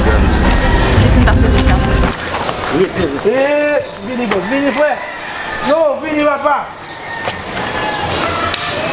Jis m tap leve chapo m. Rete rete. Eee vini bro vini frè. Yo vini papa.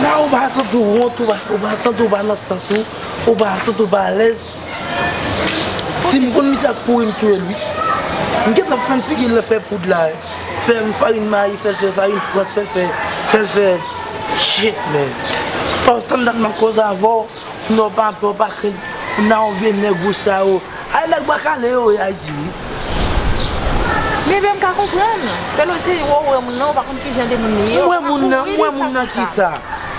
Nan ou pa santi w wont ou pa ou pa santi w pa nan sans ou ou pa santi w pa alèz si m konn misye ap kouri m touye l wi m gentan fè n figi l fè poud la fè n farin mayi fè l fè farin frans fè l fè fè l fè shit man pa w tann dat m ap koze avè w. Non papa ou pa krenn pou nan yon vye nèg ou sa yo ay nèg bwa kale yo ye ayiti wi. Bebe m ka konprann. Pelosi ou wè moun nan ou pa konn kijan de moun li ye ou pa ka kouvri li sa konsa. Ou wè moun nan, ou wè moun nan kisa?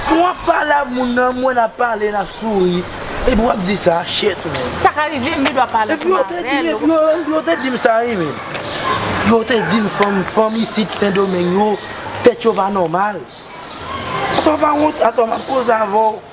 Pou wap pale avk moun nan, mwen nap pale nap souri epi wap di sa, shit man. Sa ka rive m gendwa pale ansanm avèl. Epi yo te dim sa wi menn. Yo te dim fanm fanm isit sendomeng yo tèt yo pa nòmal. Atò ou pa wont? Atò map koze avèw.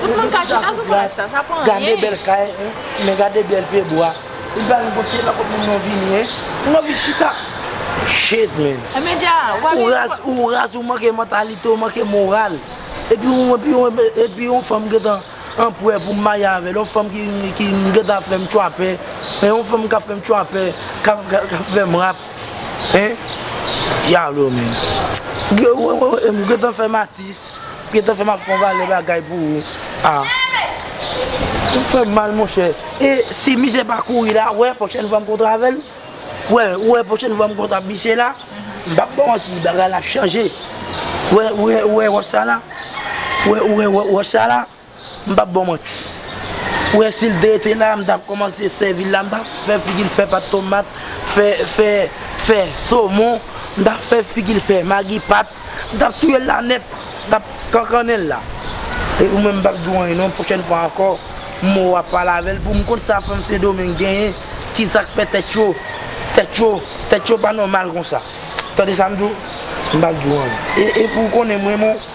Tout moun ka chita sou plas sa, sa pa anyen. Gade bèl kay, men gade bèl pye bwa. Li pa gen bon se lakòt moun nan vini hein. Moun nan vin chita. Shit man. E men dja, ou pa vin pou. Ou raz, ou manke mantalite, ou manke moral. Epi ou epi ou epi yon fanm gentan anpwè pou m marye avè l, yon fanm ki ki gentan ap fè m tchwapè, hein, yon fanm k ap fè m tchwapè, k ap k ap fè m rap, hein. Diablo man. M gentan fè m atis. Gentan fèm ap fon valè bagay pou ou ah ou fèm mal monchè. E si misye pa kouri la ou wè pwochèn fwa m kontre avèl ou wè ou wè pwochèn fwa m kontre ap misye la m pap baw manti bagay la ap chanje ou wè ou wè ou wè wòch sa la ou wè ou wè wòch sa la. M pap baw manti. Ou wè sil te rete la m tap kòmanse sèvi l la m tap fè figi l fè pat tomat fè fè fè somon m tap fè figi l fè magi pat m tap touye l la nèt m tap kankannen l la e ou menm m pap di w anyen non pwochèn fwa ankò mò wap pale avè l pou m konn sa fanm sendomeng genyen kisa k fè tèt yo tèt yo tèt yo pa nòmal konsa tande sa m di w m pap di w anyen e e pou w konnen m renmen w.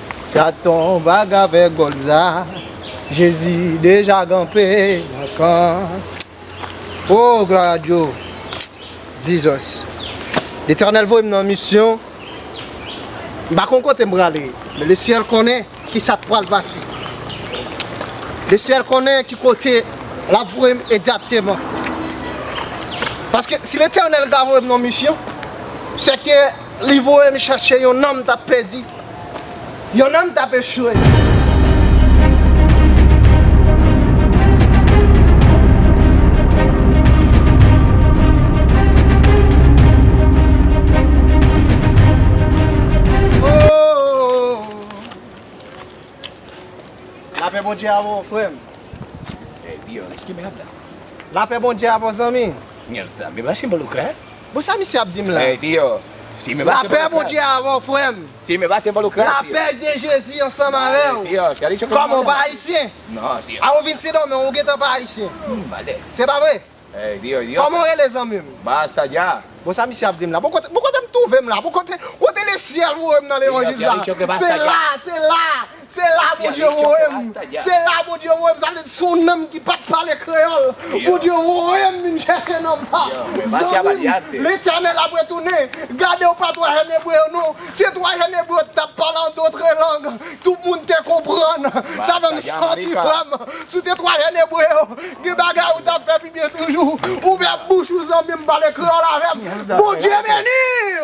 Sa ton baga vè gòl sa Jezi deja ganpe nan kan Oh glwa a Dyo Jesus Letènèl voye m nan misyon M pa konn kote m prale Men le syèl konnen ki sa k pral pase Le syèl konnen ki kote l ap voye m egzakteman Paske si Letènèl ta voye m nan misyon Se ke Li voye m chache yon nanm tap pèdi, yon nanm tap echwe. Lapè Bondye avè w frè m. La pè Bondye avè w zanmi. Bon sa misye ap dim la. Lapè Bondye avèw frèm. Lapè de Jezi ansanm avèw. Kòman ou pa ayisyen? A ou vin Sendomeng ou gentan pa ayisyen. Se pa vre? Kòman ou rele zanmim? Bon sa misye ap dim la. Bon kotem twouve m la. Bon kote le syèl voyem nan levanjil sa. Se la! Se la! Se la Bondye voye m, se la Bondye voye m, sa vle di son nonm ki pat pale kreyòl, Bondye voye m vin chèche nonm sa, zanmi m, Letènèl ap retounen, gade ou pa 3 jèn Ebre yo non, se 3 jèn Ebre yo ki tap pale an dotre lang, tout moun te konprann, sa fè m santi frè m, si w te 3 jèn Ebre yo, gen bagay ou tap fè pi byen toujou, ouvè bouch ou zanmi m pale kreyòl avè m, Bondye beni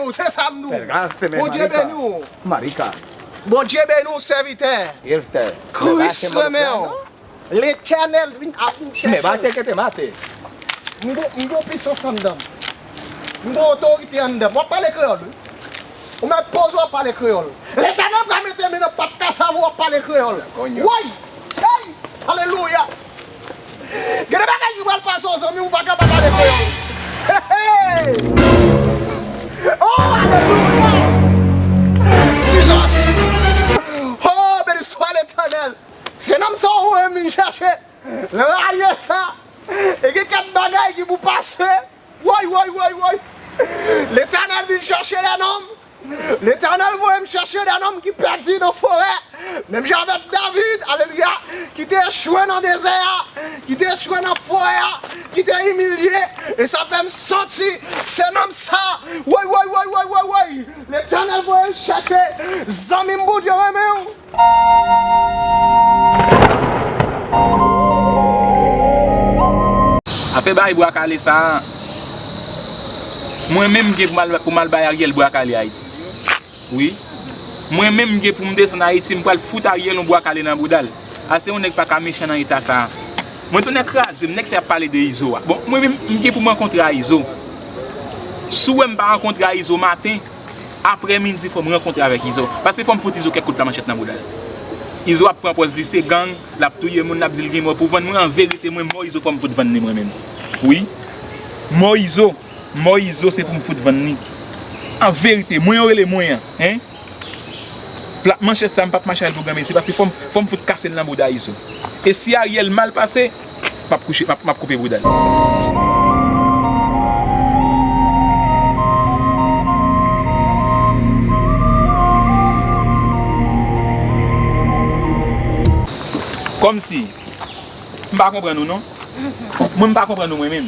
w, se sa m di w, Bondye beni w. Bondye beni w sèvitè. Kris renmen w. Letènèl vin ap vin chèche w. M gon pisans anndan m. M gon otorite anndan m. W ap pale kreyòl wi. Ou met poz ou ap pale kreyòl. Letènèl pral mete men nan pat kasav ou w ap pale kreyòl. Woy! Alelouya! Gen de bagay ki pral pase w zanmi ou pa kapab ale vre yo Heeyy Ooh alelouya Jesus Ooh beni swa letènèl Jenòm sa ou menm vin chèche ralye sa E gen kèk bagay ki pou pase Woy woy woy woy Letènèl vin chèche lènòm Letènèl voye m chèche de nonm ki pèdi nan forè, menm jan avèk David, alelouya, ki te echwe nan dezè a, ki te echwe nan forè a, ki te imilye, e sa fè m santi se nonm sa, woy woy woy woy woy woy, Letènèl voye m chèche zanmi m Bondye renmen w. Apre bay bwa kale sa a, mwen menm m gen pou m al bay Ariel bwa kale Ayiti. Wi, mwen menm m gen pou m desann Ayiti, m pral fout Ariel yon bwa kale nan bouda l. Ase yon nèg pa ka mechan nan eta sa a. Mwen tonè kraze m, nèg sa y ap pale de Izo a. Bon, mwen menm m gen pou m rankontre a Izo. Si w wè m pa rankontre a Izo maten, aprè midi fò m rankontre avèk Izo. Pase fò m fout Izo kèk kout lamanchèt nan bouda l. Izo ap pran pòz li se gang, l ap touye moun, l ap di l gen mò pou vann. Mwen an verite mwen mò Izo fò m fout vann li mwen menm. Wi. Mò Izo, mò Izo se pou m fout vann li. An verite, mwen yo rele mwen an, hein. Plat manchèt sa m p ap mache avè l pou granmesi pase fò m fout kase l nan bouda Izo. E si Ariel mal pase. map kouche map koupe bouda li. Komsi m pa konprann ou non. Mwen m pa konprann ou mwen menm.